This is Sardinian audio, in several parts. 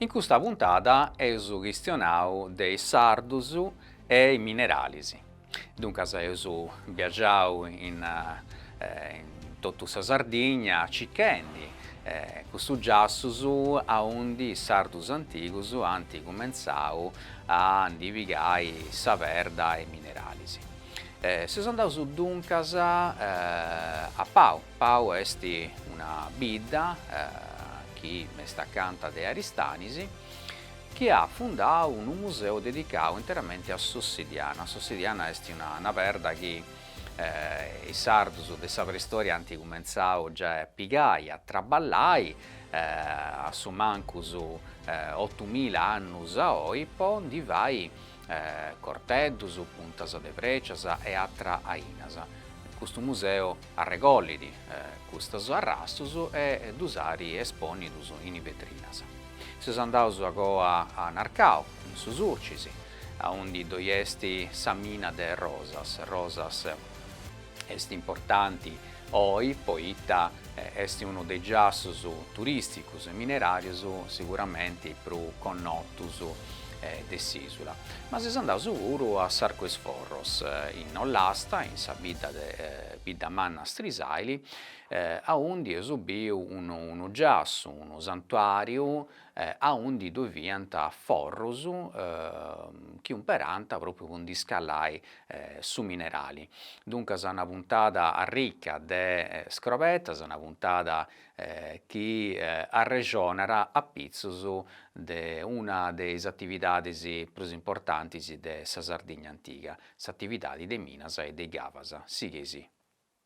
In custa puntada eus chistionau de is sardus e is mineralis. Duncas eus biagiai in totu sa Sardigna cichendi custus giassus aundi is sardus antigus ant cumentzau a ndi pigai sa perda e is mineralis. Seus andaus duncas a Pau, Pau est una bidda chi est acanta de Aristanis chi at fundau unu museu dedicau interamenti a s'ossidiana, s'ossidiana est una perda chi is sardus de sa preistoria ant cumentzau giai a pigai, a traballai a su mancus otumila annus a oi po ndi fai corteddus, puntas de frècias e atras ainas. Custu museu arregollit custus arrastus e ddus at espònnius in vetrinas. Seus andaus agoa a Narcau, in su Surcis, aundi ddoi est sa mina de Rosas, Rosas, Est importanti oi poita est unu de is giassus turìsticus e mineràrius siguramenti prus connotus de s'ìsula. Ma seus andaus puru a s'Arcu is Forros, in Ollasta, in sa bidda de Bidda Manna Strisàili, aundi eus biu unu giassu, unu santuàriu aundi ddoi fiant forrus chi umperànt pròpriu po ndi scallai su minerali, duncas una puntada arrica de scobertas, una puntada chi arrexonat apitzus de una de is atividadis prus importantis de sa Sardigna antiga, s'atividadi de minas e de is cavas. Sighei·sì.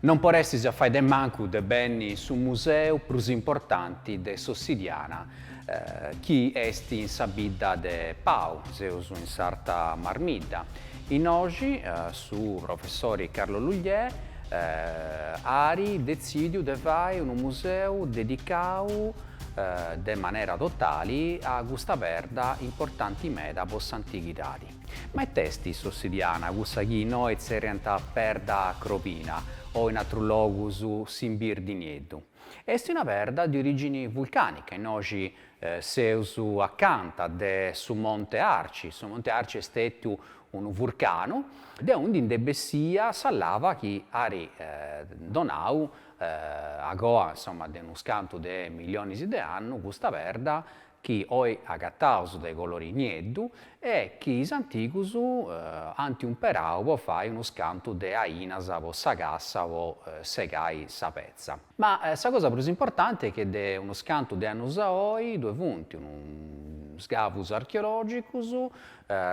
Non podestis fai de mancu de benni in su museu prus importanti de s'ossidiana chi est in sa bidda de Pau, seus in s'Arta Marmidda. Innoxi su professori Carlo Lugliè at detzìdiu de fai unu museu dedicau de manera totali a custa perda importanti meda po s'antighidadi. Ma it'est s'ossidiana, cussa chi innoi tzerriant perda crobina, o in atrus logus s'imbirdi nieddu? Est una perda de orìgini vulcànica, innoxi seus acanta de su Monte Arci, su Monte Arci est stètiu unu vurcanu, de aundi ndi est bessia sa lava chi at donau, agoa, insoma, de unus cantu de millionis de annus, custa perda chi oi agataus de colori nieddu e chi is antigus ant umperau po fai unus cantu de ainas po sa cassa po segai sa petza. Ma sa cosa prus importanti est chi de unus cantu de annus a oi ddue funt is scavus archeologigus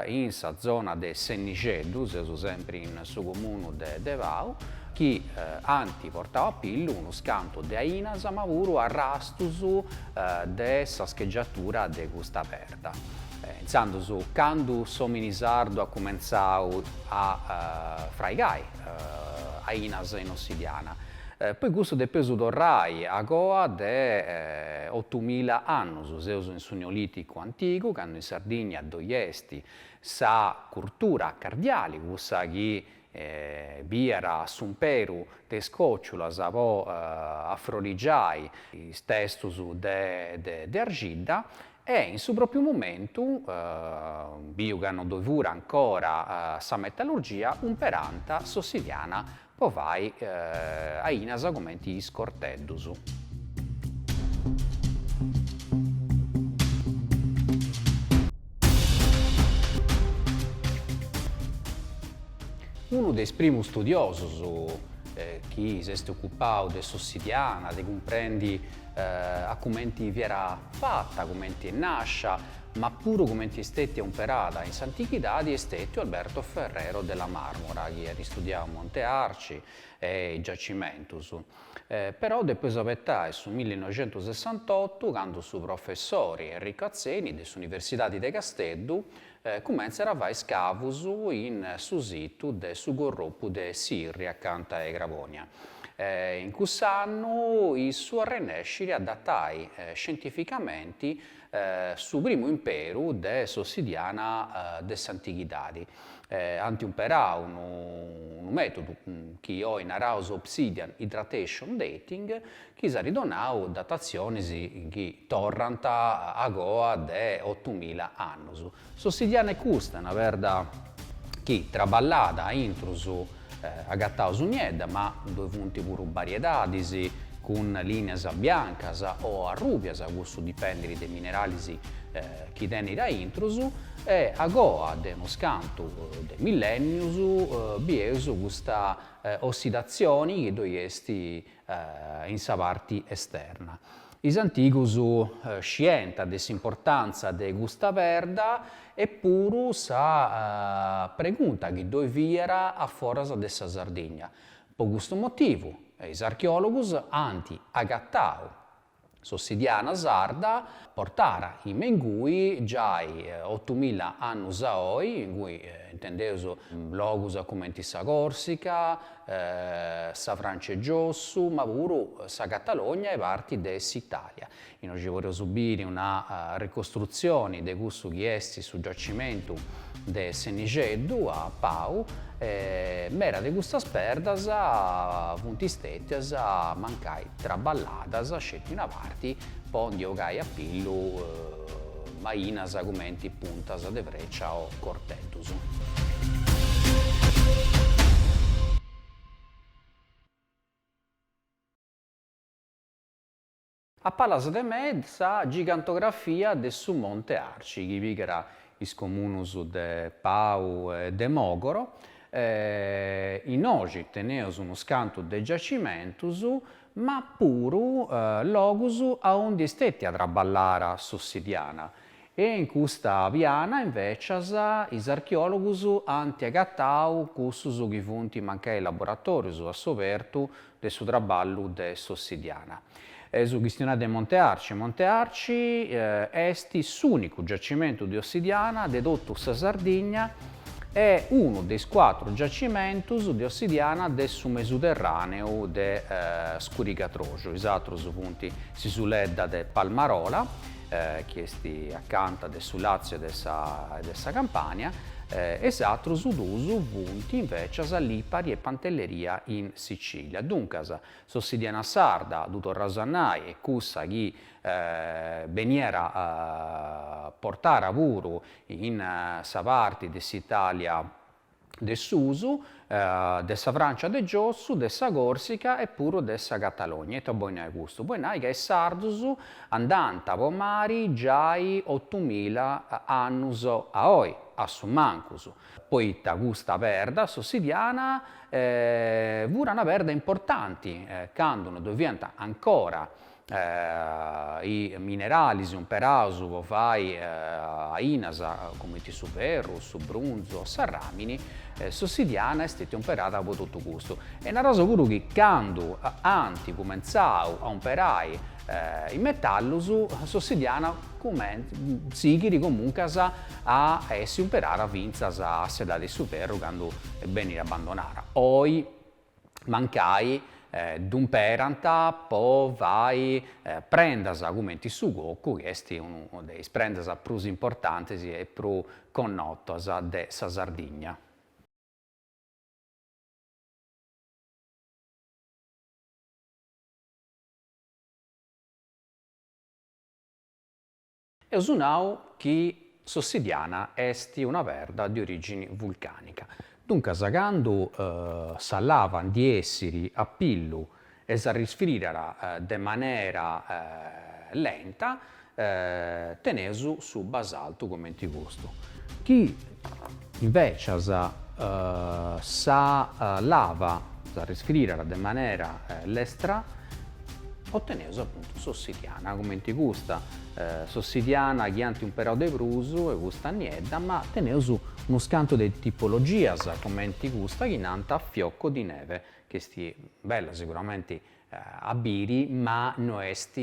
in sa zona de Sennixeddu, seus sempri in su comunu de de Pau, chi ant portau a pillu unus cantu de ainas ma puru arrastus de sa schegiatura de custa perda. Intzandus candu s'omini sardu at cumentzau a fraigai ainas in ossidiana, po custu depeus torrai a coa de otumila annus, seus su Neolìticu antigu, cando in Sardigna ddoi est sa curtura cardiali, cussa chi biiat s'umperu de is còciulas po afrorigiai is testus de arxidda, e in su pròpiu momentu, biu ca no ddoi furat ancora sa metallurgia, umperànt s'ossidiana Po fai ainas cumenti is corteddus. Unu de is primus studiosus chi s'est occupau de s'ossidiana, de cumprendi a cumenti fiat fata, cumenti est nascia, Ma puru cumenti est stètia umperada in s'antichidadi est stètiu Alberto Ferrero de la Marmora chi at studiau Monte Arci e is giacimentus. Però depeus abetai su millinoixentusessantottu candu su professori Enrico Atzeni de s'Universidadi de Casteddu cumentzat a fai scavus in su situ de su Carropu de Sirri acanta 'e Crabònia. In cuss'annu issu arrennescit a datai scientificamenti su primu umperu de s'ossidiana de s'antighidadi, ant umperau unu mètodu chi oi naraus obsidian hydratation dating, chi si at donau datatzionis chi torrant a goa de otumila annus. S'ossidiana est custa, una perda chi, traballada a intrus, agataus niedda, ma ddoi funt puru bariedadis cun lìnias biancas o arrùbias, custu dipendit de is mineralis chi tenit a intrus, e agoa de unus cantu de millènnius bieus custa ossidatzioni chi ddoi est in sa parti esterna. Is antigus scienta de s'importantza de custa perda e puru sa pregunta chi ddoi fiat a foras de sa Sardigna. Po custu motivu is archeologus ant agatau S'ossidiana sarda portara innoi me ingui giai otumilla annus a oi, ingui intendeus logus cumenti sa Corsica, sa Francia 'e giossu, ma puru sa Catalogna e parti de s'Italia. Innoi podeus biri una ricostrutzioni de cussu chi est su giacimentu de Sennixeddu a Pau mera de custas perdas funt stètias mancai traballadas sceti una parti po ndi ogai a pillu mainas cumenti puntas de frècia o corteddus. A palas de mei sa gigantografia de su Monte Arci chi pigat is comunus de Pau e de Mogoro, innoi teneus unus cantu de giacimentus ma puru logus aundi est stetia traballara s'ossidiana e in custa piana invecias is archeologus anti agatau cussus chi funt mancai laboratorius a s'obertu de su traballu de s'ossidiana. Po chistionai de Monte Arci, Monte Arci est s'ùnicu giacimentu de ossidiana de totu sa Sardigna e unu de is cuatru giacimentus de ossidiana de su mesuterràneu de scurigadroxu, is atrus funt s'isuledda de Palmarola, chi est acanta de su Làtziu e de sa Campània, e is atrus duus funt invècias Lipari e Pantelleria in Sicilia. Duncas, s'ossidiana sarda, ddu torraus a nai, est cussa chi beniat portara puru in sa parti de s'Italia de susu, de sa Francia de giossu, de sa Corsica e puru de sa Catalogna, ita boit nai custu? Boit nai ca is sardus andànt po mari giai otumila annus a oi, a su mancus. poita custa perda s'ossidiana fut una perda importanti candu no ddoe fiant ancora is mineralis umperaus po fai ainas cumenti su ferru, su brunzu o sa ràmini, s'ossidiana est stetia umperada po totu custu. E naraus puru chi candu ant cumentzau a umperai is metallus s'ossidiana sighit comuncas a essi umperara fintzas a s'edadi de su ferru candu benit abandonara oi mancai dd'umperant po fai prendas cumenti su cocu chi est una de is prendas prus importantis e prus connotas de sa Sardigna. Eus nau chi s'Ossidiana est una perda de origini vulcanica, duncas candu sa lava ndi essit a pillu e s'arrisfridat de manera lenta, teneus su basaltu comenti custu, chi invècias sa lava s'arrisfridat de manera lestra, oteneus apuntu s'ossidiana comenti custa, s'ossidiana chi ant umperau de prus est custa niedda, ma teneus unus cantu de tipologias comenti custa chi nant fioco di neve, chi est bella siguramenti a biri ma no est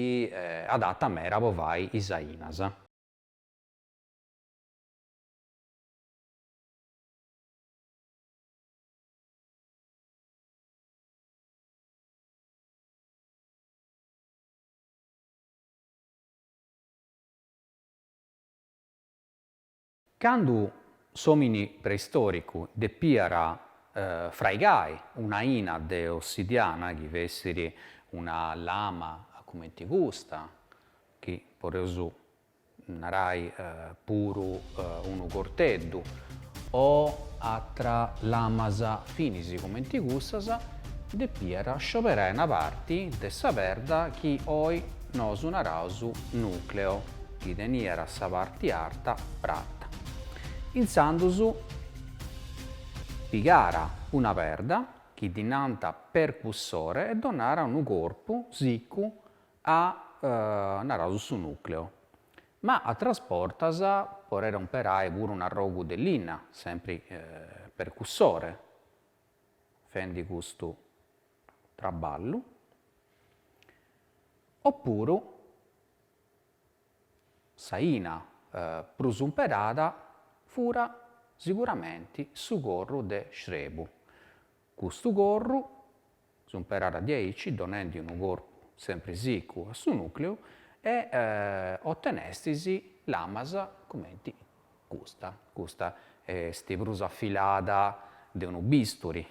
adata mera po fai is ainas. Candu s'òmini preistòricu depiat fraigai una 'ina de ossidiana, chi fessit una lama cumenti custa, chi podeus narai puru unu corteddu, o atra lamas finis cumenti cussas, depiat scioberai una parti de sa perda chi oi nosu naraus nùcleo. chi teniat sa parti arta prata. Intzandus pigàt una perda chi ddi nant percussore e donàt unu corpu sicu a, naraus, su nucleo. Ma atras bortas podet umperai puru un'arrogu de linna, sempri percussore, fendi custu traballu, o puru Sa 'ina prus umperada fut siguramenti su corru de srebu. Custu corru s'umperàt diaici donendi unu corpu sempri sicu a su nucleu e otenestis lamas cumenti custa. Custa est prus afilada de unu bisturi,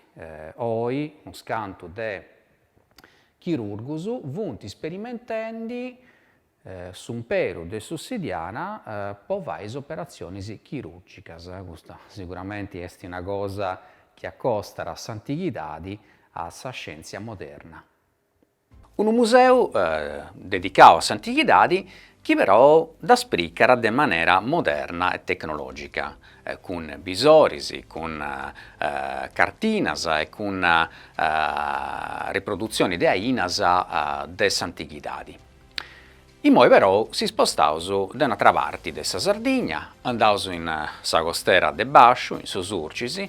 oi unu scantu de chirùrgus funt sperimentendi s'umperu de s'ossidiana po fai is operatzionis chirùrgigas. Custa siguramenti est una cosa chi acostat s'antighidadi a sa scièntzia moderna. Unu museu dedicau a s'antighidadi chi però dda spricat de manera moderna e tecnològica, cun bisoris, cun cartinas e cun riprodutzionis de ainas de s'antighidadi. Imoi però s'ispostaus de un'atra parti de sa Sardigna, andaus in sa costera de Basciu, in su Surcis,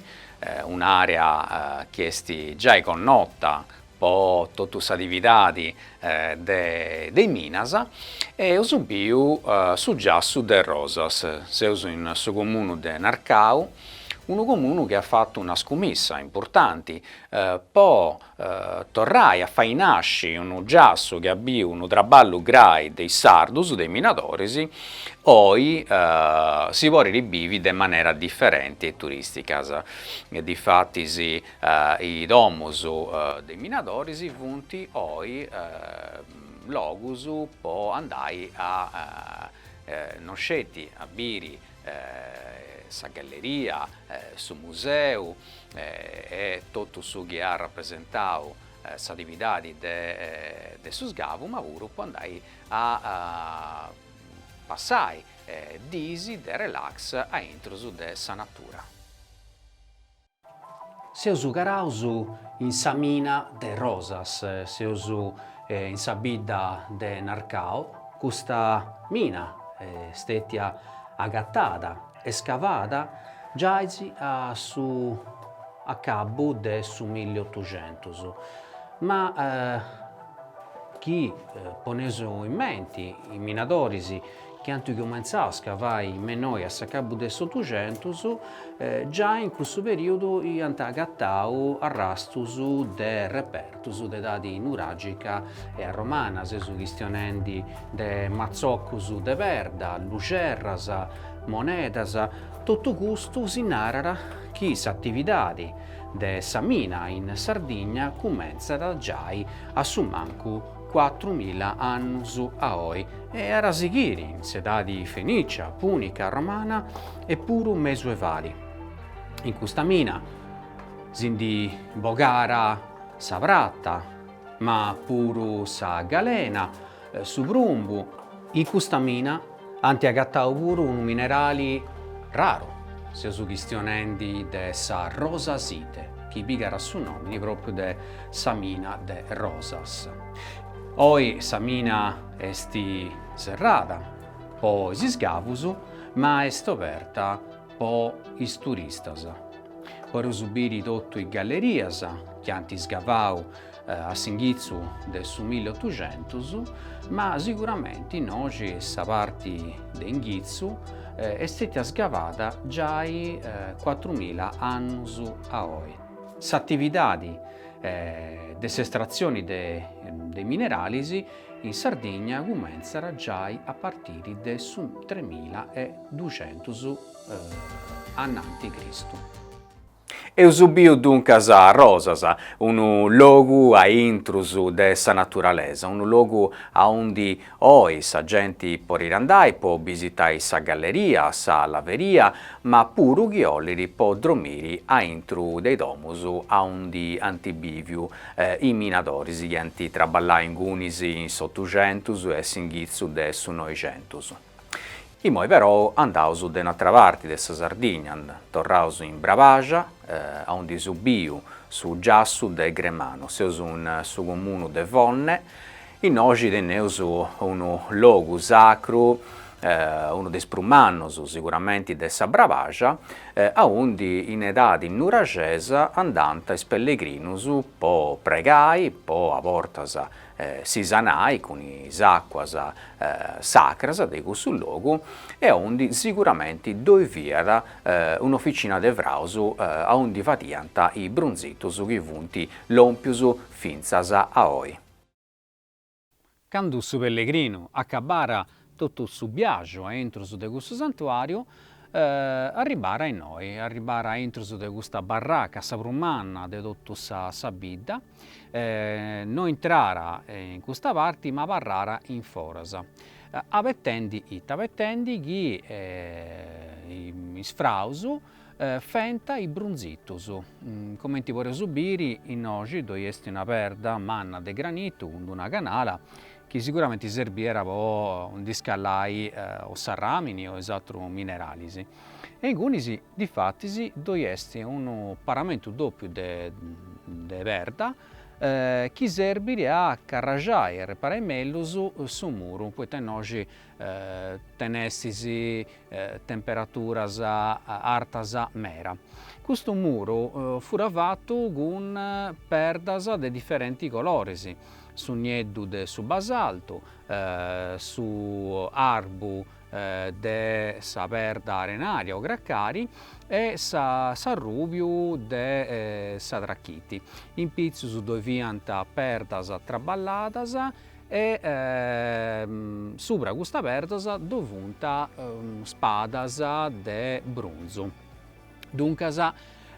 un'àrea chi est giai connota po totu s'atividadi de is minas, e eus biu su giassu de Rosas. Seus in su comunu de Narcau, unu comunu chi at fatu una scumissa importanti po torrai a fai nasci unu giassu chi at biu unu traballu grai de is sardus, de is minadoris, oi si podit bivi de manera diferenti e turìstica. Difatis Is domus de is minadoris funt oi logus po andai a no sceti a biri sa galleria, su museu e totu su chi at rapresentau s'atividadi de su sgavu, ma puru po andai a passai dis de relax a intrus de sa natura. Seus caraus in sa mina de Rosas, seus in sa bidda de Narcau, custa mina est stètia agatada e scavada giai a s'acabu de su milli otuxentus, ma chi poneus in menti is minadoris chi ant cumentzau a scavai innoi a s'acabu de s'Otuxentus, giai in cussu perìodu iant agatau arrastus de repertus de edadi nuràgica e romana, seus chistionendi de matzocus de perda, luxerras, monedas, totu custu si narat chi s'atividadi de sa mina in Sardigna cumentzat giai a su mancu cuatru mila annus a oi e at a sighiri in s'edadi fenicia, punica, romana e puru mesuevali. In custa mina si ndi bogàt sa prata, ma puru sa galena, su prumbu, in custa mina Ant agatau puru unu minerali raru, seus chistionendi de sa rosasite, chi pigat su nomini propriu de sa mina de Rosas. Oi sa mina est serrada po is sgavus, ma est oberta po is turistas. Podeus biri totu is gallerias chi ant sgavau a s'inghitzu de su milli otuxentus, ma siguramenti innoxi sa parti de inghitzu est stetia sgavada giai cuatrumila annus a oi. S'atividadi de s'estratzioni de i mineralis in Sardigna cumentzat giai a partiri de su tremila e duxentus ananti Cristu. Eus biu duncas Rosas, unu logu a intrus de sa naturalesa, unu logu aundi oi sa genti porit andai po bisitai sa galleria, sa laveria, ma puru chi ollit po dromiri a intru de i domus aundi ant biviu is minadoris chi ant traballai ingunis in s'Otuxentus e s'inghitzu de su Noixentus. Imoi però andaus de un'atra parti de sa Sardigna, torraus in Brabaxa, aundi eus biu su giassu de Gremanu, seus in su comunu de Fonne, innoxi tenneus unu logu sacru, unu de is prus mannus siguramenti de sa Brabaxa, aundi in edadi nuraxesa andant is pellegrinus po pregai, po a bortas si sanai cun is àcuas sacras de cussu logu e aundi siguramenti ddoi fiat un'oficina de fraus aundi fadiant is brunzitus chi funt lòmpius fintzas a oi. Candu su pellegrinu acabàra Totu su biaxu a intrus de cussu santuàriu, arribàra innoi, arribàra a intrus de custa barraca, sa prus manna de totu sa bidda, no intràra in custa parti ma abarràra in foras, abetendi ita, abetendi chi is fraus Fenta is brunzitus, comenti poreus biri innoxi ddoi est una perda manna de granitu cun d'una canala chi siguramenti serbiera po ndi scallai o s'arramini o is atrus mineralis. E ingunis, difatis, ddoi est unu paramentu dòpiu de perda chi serbit a carraxai e reparai mellus su muru, poita innoxi Tenestis temperaturas artas mera. Custu muru fura fatu cun perdas de diferenti coloris, su nieddu de su basaltu, su arbu de sa perda arenaria o cracari e s'arrùbiu de sa trachiti. In pitzus ddoi fiant perdas traballadas E subra custas perdas ddoi funt spadas de brunzu. Duncas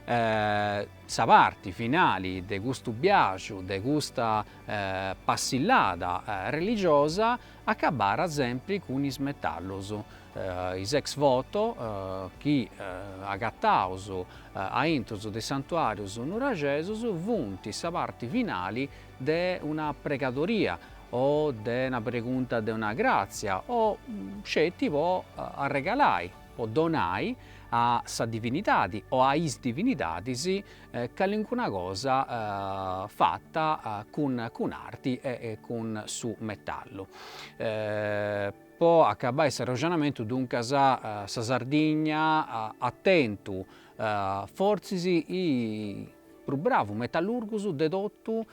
sa parti finali de custu biaxu, de custa passillada religiosa, acabarat sempri cun is metallos, is ex voto chi agataus aintrus de is santuàrius nuraxesus funt sa parti finali de una pregadoria o de una pregunta de una gràtzia o sceti po arregalai, po donai a sa divinidadi o a is divinidadis calincuna cosa fata cun arti e cun su metallu. Po acabai s'arroxonamentu duncas sa Sardigna at tentu fortzis prus bravus metallurgus de totu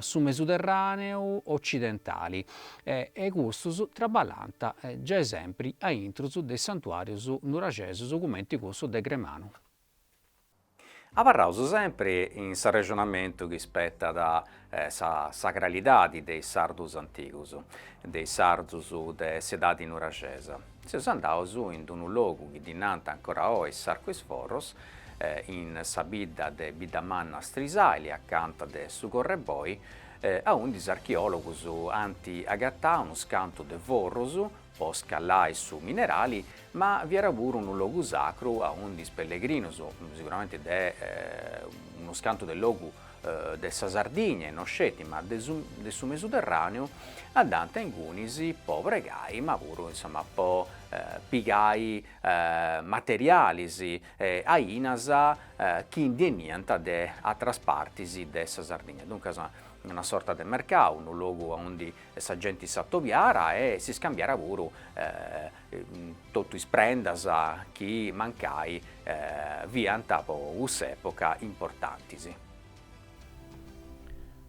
su Mesuderràneu otzidentali e custus traballant giai sempri a intrus de is santuàrius nuraxesus cumenti cussu de Gremanu. Abarraus sempri in s'arrexonamentu chi spetat sa sagralidadi de is sardus antigus, de is sardus de s'edadi nuraxesa. Seus andaus in d-unu logu chi ddi nant ancora oi s'Arcu is Forros, in sa bidda de Biddamanna Strisaili, acanta de su Correboi, aundi is archeologus ant agatau unu scantu de forrus po scallai su minerali, ma fiat puru unu logu sacru aundi is pellegrinus, siguramente de unu scantu de logus de sa Sardigna e no sceti, ma de su de su Mesuterràneu, andànt a ingunis po pregai, ma puru insoma po pigai materialis e ainas chi ndi 'eniant de ateras partis de sa Sardigna, duncas una sorta de mercau, unu logu aundi sa genti s'atobiara e s'iscambiara puru totu is prendas chi mancai fiant po cuss'època importantis.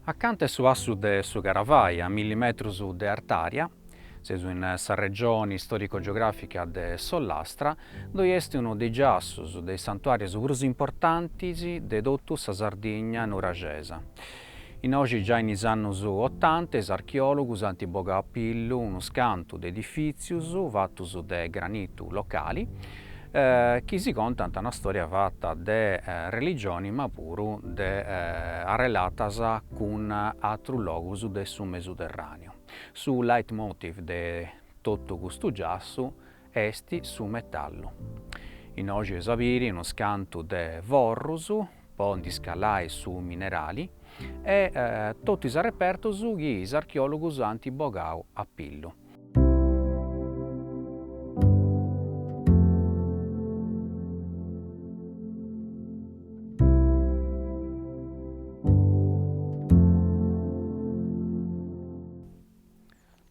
Acanta 'e su passu de su Caravai, a milli metrus de artària, seus in sa regioni istorico-geogràfica de s'Ollastra, ddoi est unu de is giassus de is santuàrius prus importantis de totu sa Sardigna nuraxesa. Innoxi giai in is annus otanta is archeòlogus ant bogau a pillu unu scantu de edifìtzius fatus de granitu locali chi si contant una stòria fata de religioni ma puru de arrelatas cun atrus logus de su Mesuterràneu. Su leitmotiv de totu custu giassu Est su metallu. Innoi eus a biri unos cantu de forrus po ndi scallai su minerali e totu is arrepertus chi is archeòlogus ant bogau a pillu.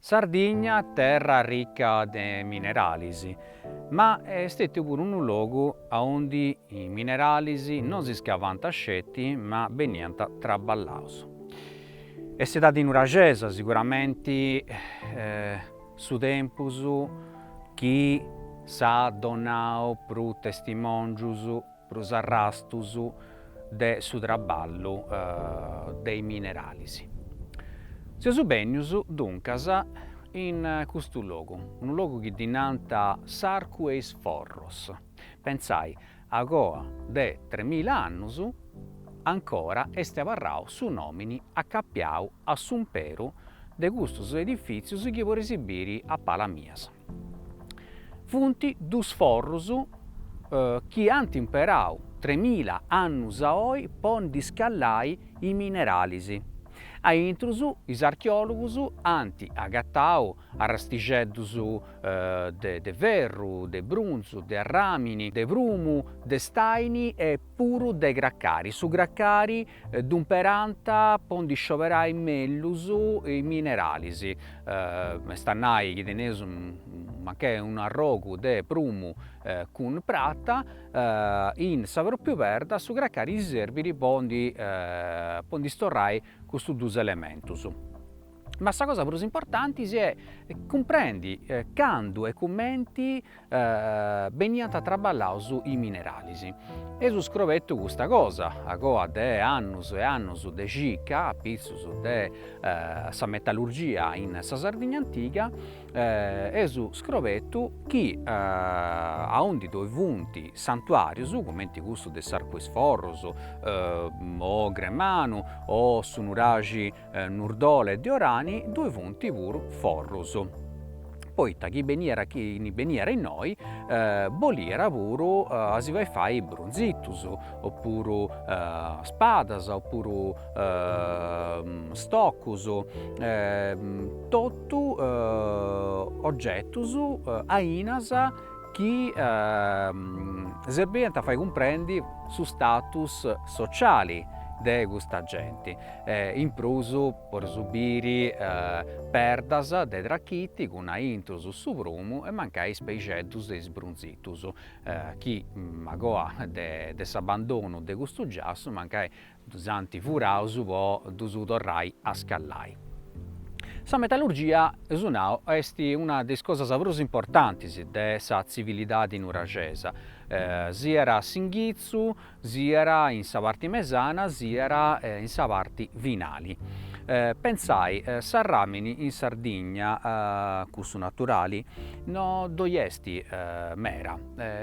Sardigna, terra rica de mineralis, ma est stetiu puru unu logu aundi is mineralis no si scavànt sceti ma beniant traballaus. Est s'edadi nuraxesa siguramenti su tempus chi si at donau prus testimòngius prus arrastus de su traballu de is mineralis. Seus bennius, duncas, in custu logu, unu logu chi ddi nant s'Arcu 'e is Forros, pentzai, agoa de tremila annus, ancora est abarrau su nòmini acapiau a s'umperu de custus edifìtzius chi podeis biri a palas mias. Funt duus forrus chi ant imperau tremila annus a oi po ndi scallai is mineralis. Aintru is archeòlogus ant agatau arrastixeddus de ferru, de brunzu, de arràmini, de prumu, de staini e puru de cracari, su cracari ddu imperant po ndi scioberai mellus is mineralis, est a nai chi teneus mancai un'arrogu de prumu cun prata, in sa pròpriu perda su cracari si serbit po ndi storrai custus dus elementus. Ma sa cosa prus importanti est cumprendi candu e cumenti beniant traballaus is mineralis. Eus scrobetu custa cosa agoa de annus e annus de cica, apitzus de sa metallurgia in sa Sardigna antiga, eus scrobetu chi aundi ddoi funt santuàrios, cumenti custu de s'Arcu 'e is Forros o Gremanu o su nuraxi Nurdole de Orani ddoi funt puru forrus, poita chi beniat chini beniat innoi boliat puru a si fai fai brunzitus o puru spadas o puru stocus totu ogetus ainas chi serbiant a fai cumprendi su status sociali de custa genti, in prus po rosigai perdas de trachiti cun aintrus su prumu e mancai is peixeddus e is brunzitus chi agoa de s'abbandonu de custu giassu mancai Ddus ant furaus po ddus torrai a scallai. Sa metallurgia, eus nau, est una de is cosas prus importantis de sa tzivilidadi nuraxesa, siat a s'inghitzu, siat in sa parti mesana, siat in sa parti finali. Pensai, s'arràmini in Sardigna, cussu naturali, no ddoi est meda,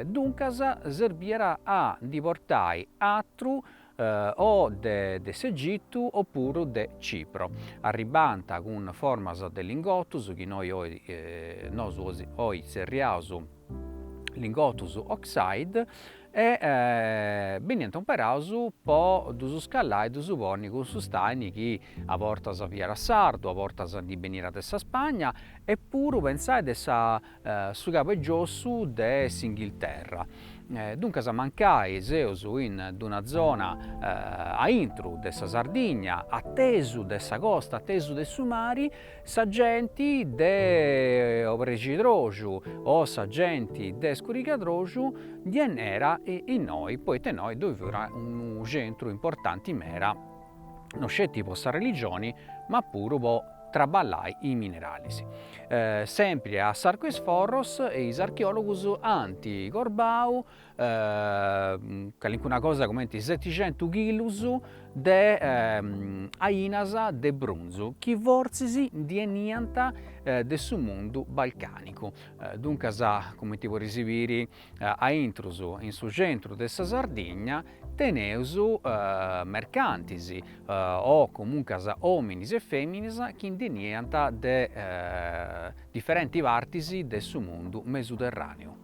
duncas serbiat a ndi portai atru, o de s'Egitu o puru de Cipro. Arribant cun formas de lingotus chi noi nosu oi zerriaus lingotus oxide e beniant umperaus po ddus scallai e ddus ponni cun su staini chi a bortas fiat sardu, a bortas ndi beniat de sa Spagna e puru pentzai de sa su Cabu 'e Giossu de s'Inghilterra. Duncas mancai seus in d-una zona a intru de sa Sardigna, a tesu de sa costa, a tesu de su mari, sa genti de Obrexidroxu o sa genti de Scurigadroxu ndi 'eniat a innoi, poita innoi ddoi fiat unu centru importanti meda no sceti po sa religioni ma puru po traballai is mineralis. Sempri a S'Arcu 'e is Forros is archeologus ant crobau calincuna cosa cumenti seticentu chilus de ainas de brunzu chi fortzis ndi 'eniant de su mundu balcanicu, duncas cumenti podis biri A intrus in su centru de sa Sardigna teneus mercantis o comuncas ominis e feminis chi ndi 'eniant de diferenti partis de su mundu mesuderraniu.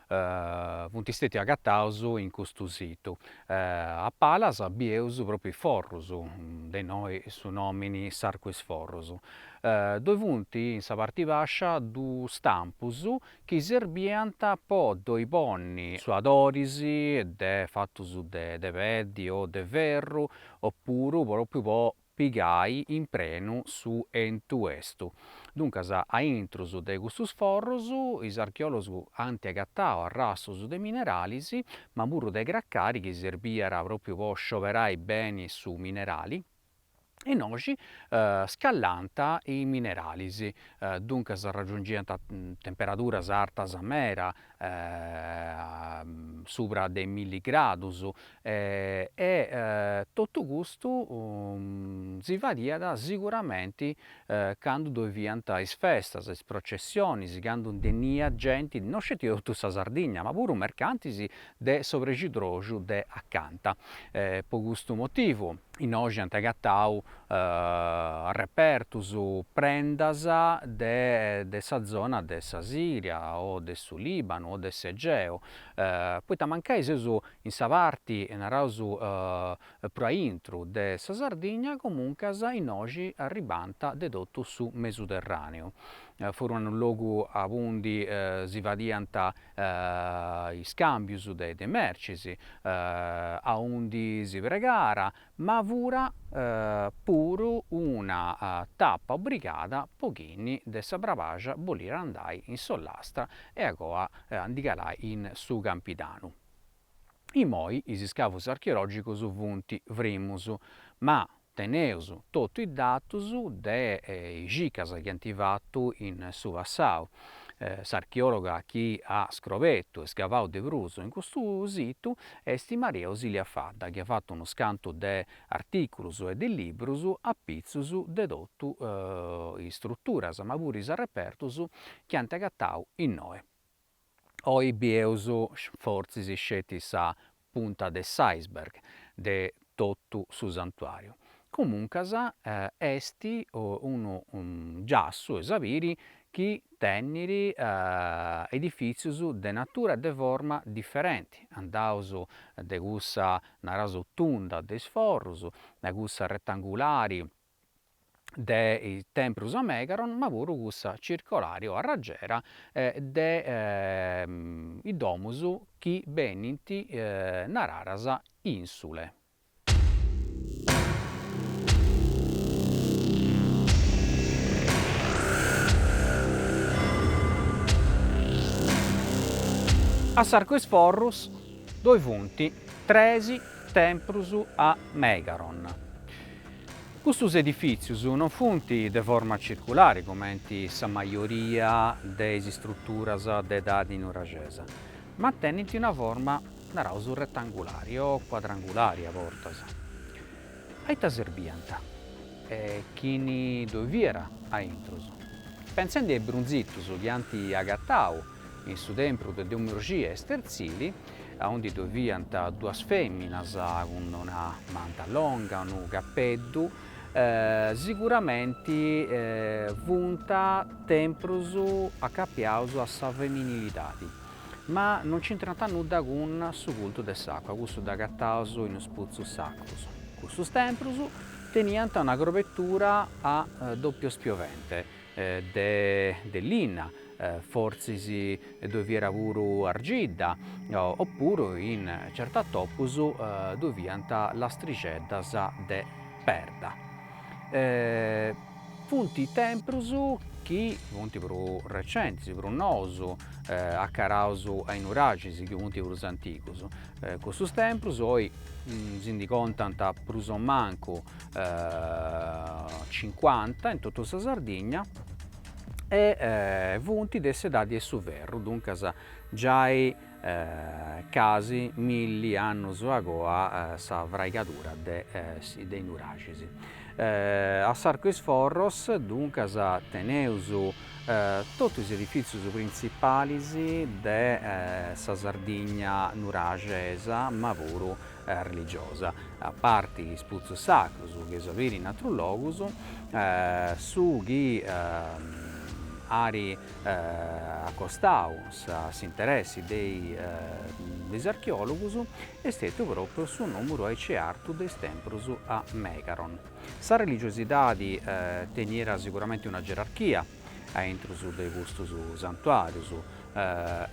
funt stètius agataus in custu situ, a palas bieus pròpriu is forrus, de innoi su nòmini S'Arcu 'e is Forrus, ddoi funt in sa parti bàscia duus stampus chi serbiant po ddoi ponni suadoris de fatus de peddi o de ferru o puru pròpriu po pigai in prenu su 'entu 'estu. Duncas, a intrus de custus forrus, is archeòlogos ant agatau arrastus de mineralis, ma puru de cracari chi serbiat pròpriu po scioberai beni su minerali, e innoxi scallànt is mineralis, duncas raggiungiant temperaduras artas meda, subra de milli gradus e totu custu si fadiat siguramenti candu ddoi fiant is festas, is processionis, candu beniat genti, no sceti de totu sa Sardigna, ma puru mercantis de s'oprigidroxu de acanta, po custu motivu innoxi ant agatau repertus prendas de de sa zona de sa Siria o de su Libanu o de s'Egeu, poita mancai seus in sa parti, naraus, prus a intru de sa Sardigna, comuncas innoxi arribànt de totu su Mesuterraneu. Fura unu logu aundi si fadiant is cambius de de mercis, aundi si pregara, ma fura puru una tappa obrigada po chini de sa Brabaxa boliri andai in s'Ollastra e agoa a ndi calai in su Campidanu. Imoi is iscavus archeologicus funt frimus, ma teneus totu is datus de is circas chi ant fatu in su passau. S'archeologa chi at scrobetu e scavau de prus in custu situ Est Maria Ausilia Fadda chi at fatu unus cantu de artìculus e de librus apitzus de totu is struturas ma puru is arrepertus chi ant agatau innoe. Oi bieus fortzis sceti sa punta de s'iceberg de totu su santuàriu. Comuncas est unu giassu, est a biri, chi teniri edifìtzius de natura e de forma diferenti, andaus de cussa, naraus, tunda de is forrus, a cussa retangulari de is templus a megaron ma puru cussa circolari o a ragera de is domus chi benint nararas insule. A S'Arcu 'e is Forrus ddoi funt tres templus a megaron. Custus edifìtzius non funt de forma circulari comenti sa majoria de is istruturas de edadi nuraxesa, ma tenint una forma, naraus, retangulari o cuadrangulari a bortas. A ita serbiant? E chini ddoi fiat a intrus? Pentzendi a is brunzitus chi ant agatau in su tempru de Domu 'e Urxia 'e Sterzili, aundi ddoi fiant duas fèminas cun una manta longa, unu capeddu, siguramenti funt temprus acapiaus a sa feminilidadi, ma non nc'intrant nudda cun su cultu de s'àcua, cussu dd'agataus in is putzus sacrus. Cussus temprus teniant una crobetura a doppiu spiovente, de linna, fortzis ddoi fiat puru argidda, opuru in certus atopus ddoi fiant lastrixeddas de perda. Funt temprus chi funt prus recentis, prus nous, acaraus a is nuraxis chi funt prus antigus, cussus temprus oi si ndi contant prus o mancu cincuanta in totu sa Sardigna e funt de s'edadi 'e su ferru, duncas giai casi milli annus a goa sa fraigadura de is nuraxis. A S'Arcu 'e is Forros, duncas, teneus totu is edifìtzius printzipalis de sa Sardigna nuraxesa ma puru religiosa, a parti is putzus sacrus chi eus a biri in atrus logus, su chi ari acostau s'interessi de is archeologus est stetiu propriu su numeru aici artu de is temprus a Megaron. Sa religiosidadi tenierat siguramenti una gerarchia, a intrus de custus santuàrius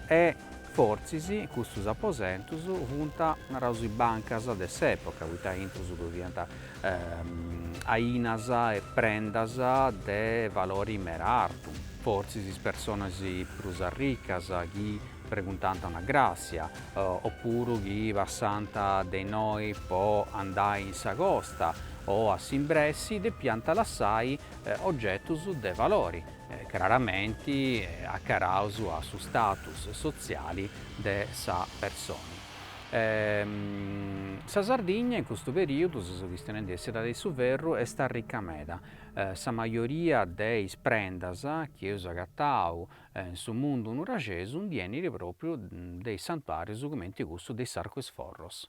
e fortzis custus aposentus funt, naraus, is bancas de s'època, poita a intrus ddoi fiant ainas e prendas de valori meda artu, fortzis is personas prus arricas chi preguntant una gràssia, opuru chi passant de innoi po andai in sa costa o a s'imbressi depiant lassai ogetus de valori, craramenti acaraus a su status sotziali de sa persona. Sa Sardigna in custu perìodu, seu chistionendi de s'edadi de su ferru, est arrica meda. Sa majoria de is prendas chi eus agatau in su mundu nuraxesu nd'enit pròpriu de is santuàrius comenti cussu de S'Arcu 'e is Forros.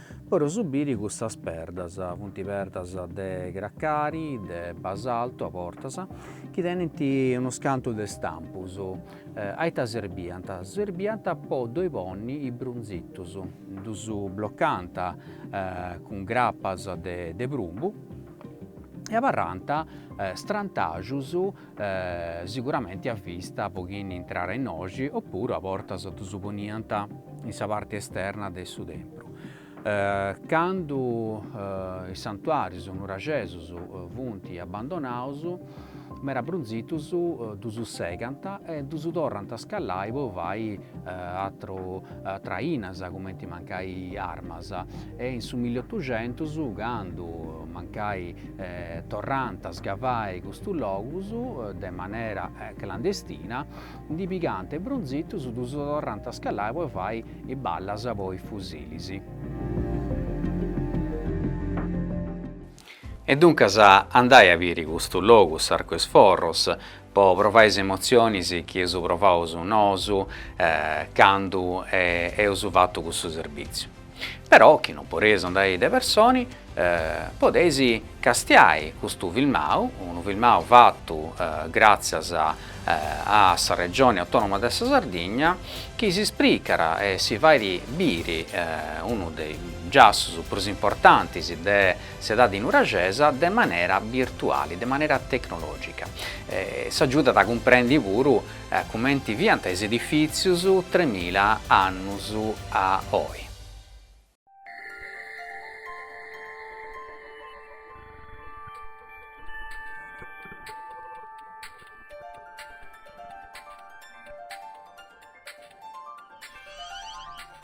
Puru su biri cussas perdas, funt perdas de cracari, de basaltu a bortas, chi tenint unus cantu de stampus, a ita serbiant, serbiant po ddoi ponni is brunzitus, ddus blocànt cun grapas de prumbu e abarrànt strantaxus siguramenti a vista po chini intràt innoxi oppuru a bortas ddus poniant in sa parti esterna de su tempru. Candu is santuarius nuraxesus funt abbandonaus, mera brunzitus ddus segant e ddus torrant a scallai po fai atras ainas cumenti mancai armas e in su milliotuxentus candu mancai torrant a scavai custus logus de manera clandestina, ndi pigant is brunzitus, ddus torrant a scallai po fai is ballas po is fusilis. E duncas andai a biri custus logus, s'Arcu 'e is Forros, po provai is emotzionis chi eus provaus nosu candu eus fatu cussu serbitziu. Però chi non podeis andai de personi, podeis castiai custu filmau, unu filmau fatu gràtzias a sa Regioni Autònoma de sa Sardigna, chi si ispricat e si fait biri unu de is giassus prus importantis de s'edadi nuraxesa de manera birtuali, de manera tecnològica. S'agiudat a cumprendi puru Cumenti fiant is edifìtzius tremila annus a oi.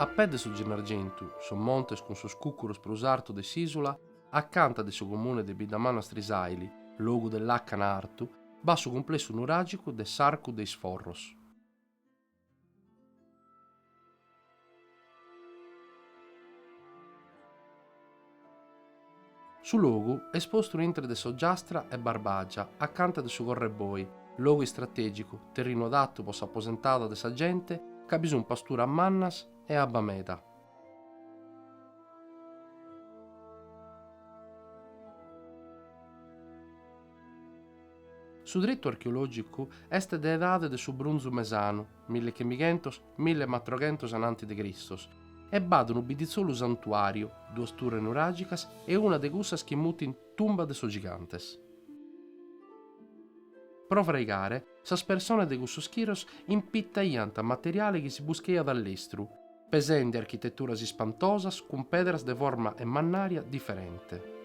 A pè de su Gennargentu, sos montes cun sos cucuros prus artos de s'ìsula, a canta de su comune de Biddamanna Strisaili, logu de làcana artu, b'at su cumplessu nuràgicu de s'Arcu de is Forros. Su logu est postu intre de s'Ogiastra e Barbàgia, acanta de su Correboi, logu istratègicu, terrinu adatu pro s'aposentada de sa gente ca bi sunt pasturas mannas e abba meda. Su tretu archeològicu est de edade de su Brunzu Mesanu, mille chimighentos, mille e batoroghentos ananti de Cristos, e b'at unu biditzolu santuàriu, duas turres nuràgicas e una de cussas chi mutint Tumba de sos Gigantes. Pro fraigare, sas persones de cussos chiros impitaiant materiale chi si buschaiat a lestru, pesende architeturas ispantosas cun pedras de forma e mannària diferente.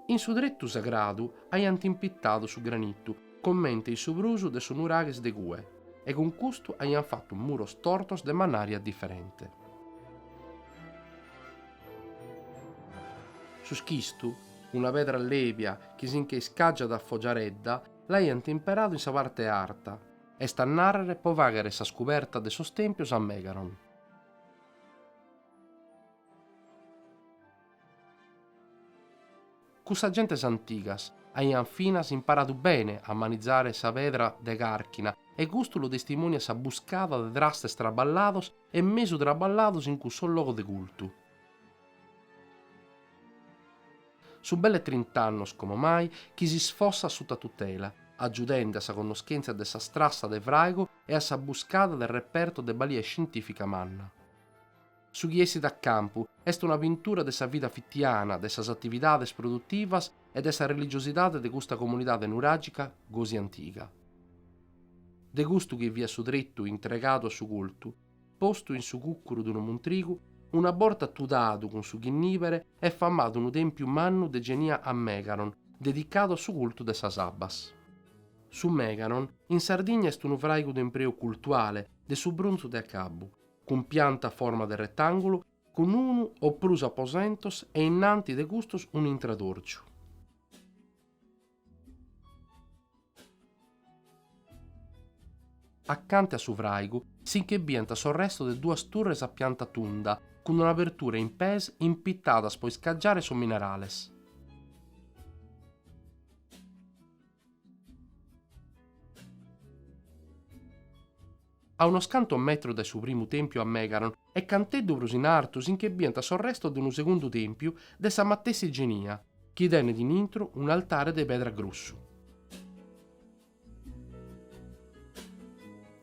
In su tretu sagradu aiant impitadu su granitu comente in su prus de sos nuraghes de cue e cun custu aiant fatu muros tortos de mannària diferente. Su schistu, una pedra lèbia chi si nche iscàgiat a fogiaredda, l'aiant imperadu in sa parte arta, est a nàrrere pro fàghere sas cobertas de sos tèmpios a Megaron. Cussas gentes antigas aiant finas imparadu bene a manizare sa pedra de càrchina e custu lu testimòniat sa buscada de trastes traballados e mesu traballados in cussos logos de cultu. Sunt belle trint'annos como mai chi si sfossat suta tutela, agiudende a sa connoschèntzia de sas trassas de fràigu e a sa buscada de repertos de balia scientìfica manna. Su chi essit a campu est una pintura de sa vida fitiana, de sas atividades produtivas e de sa religiosidade de custa comunidade nuràgica gosi antiga. De custu chi fiat su tretu intregadu a su cultu, postu in su cucuru de unu muntrigu, una borta tudadu cun su chinnìbere est famadu unu tèmpiu mannu de genia a Megaron, dedicadu a su cultu de sas abbas. Su Megaron in Sardigna est unu fràigu de impreu cultuale de su brunzu de acabbu, cun pianta a forma de retàngulu, cun unu o prus aposentos e innanti de custos un'intradòrgiu. Acanta a su fràigu si nche biant sos restos de duas turres a pianta tunda cun una abertura in pes impitadas pro iscagiare sos minerales. a unos cantos metros dae su primu tèmpiu a Megaron e canteddu prus in artu si nche biant sos restos de unu segundu tèmpiu de sa matessi genia, chi tenet in intro un'altare de pedra grossu.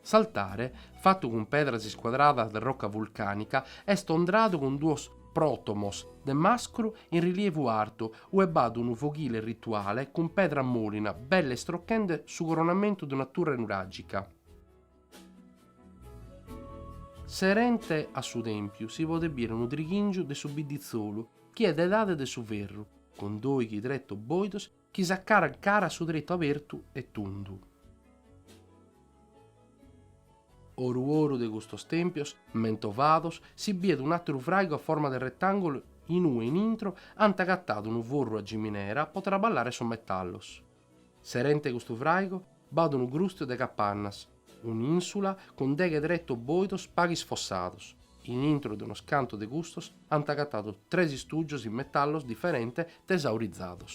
S'altare, fatu cun pedras iscuadradas de roca vulcànica, est ondradu cun duos pròtomos de mascru in rilievu artu, ue b'at unu foghile rituale cun pedra mòlina belle istrochende su coronamentu de una turre nuràgica. Serente a su tèmpiu si podet bìere unu trighìngiu de su bidditzolu chi est de edade de su ferru, cun dòighi tretos bòidos chi s'acarant cara a su tretu abertu e tundu. Oru oru de custos tèmpios mentovados si bìet un'àteru fràigu a forma de retàngulu in ue in intro ant agatadu unu forru a giminera pro traballare sos metallos. Serente custu fràigu b'at unu grùstiu de capannas, un'insula cun deghe tretos bòidos paghes fossados. In intro de unos cantos de custos ant agatadu tres istùgios in metallos diferente tesaurizados.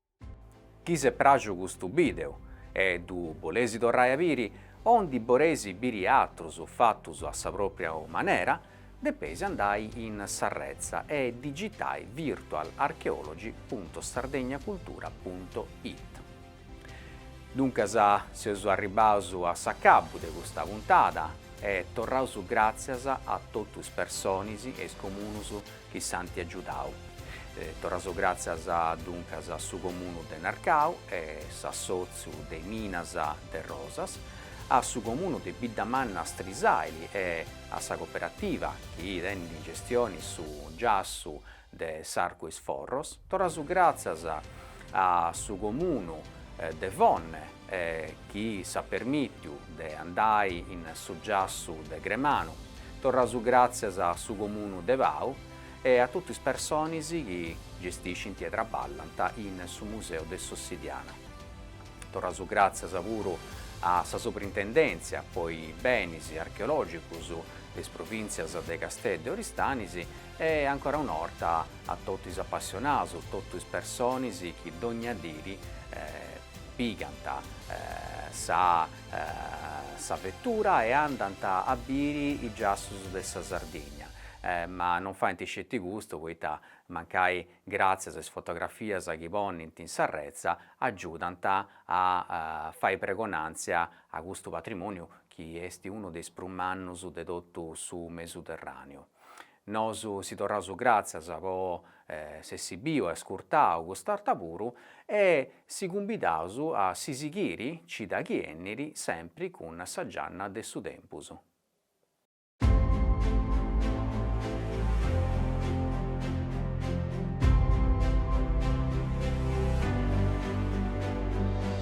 Chi s'est pràgiu custu bideu e ddu bolesi torrai a biri o ndi boresi biri atrus fatus a sa propria manera, depeis andai in s'arretza e digitai virtualarchaeology punto sardegnacultura punto it. Duncas seus arribaus a s'acabu de custa puntada e torraus gràtzias a totu is personis e is comunus chi s'anti agiudau. Torraus gràtzias duncas a su Comunu de Narcau e s'assòtziu de is Minas de Rosas, a su Comunu de Biddamanna Strisàili e a sa coperativa chi tenit in gestioni su giassu de s'Arcu is Forros. Torraus gràtzias a su Comunu de Fonne e chi s'at permìtiu de andai in su giassu de Gremanu, torraus gràtzias a su Comunu de Pau e a totu is personis chi gestiscint e traballant in su Museu de s'Ossidiana. Torraus gràtzias puru a sa Soprintendèntzia po is Benis archeològicus de is Provìntzias de Casteddu e Oristanis, E ancora un'orta a totu is apassionadus, totu is personis chi dogna diri pigant sa sa vetura e andant a biri is giassus de sa Sardigna, ma non faint sceti custu poita mancai gràtzias a is fotografias chi ponint in s'arretza agiudant a fai pregonàntzia a custu patrimoniu chi est unu de is prus mannus de totu su Mesuterràneu. Nosu si torraus gràtzias po s'essi biu e ascurtau cust'arta puru e si cumbidaus a si sighiri cida chi 'ènniri sempri cun sa gianna de su tempus.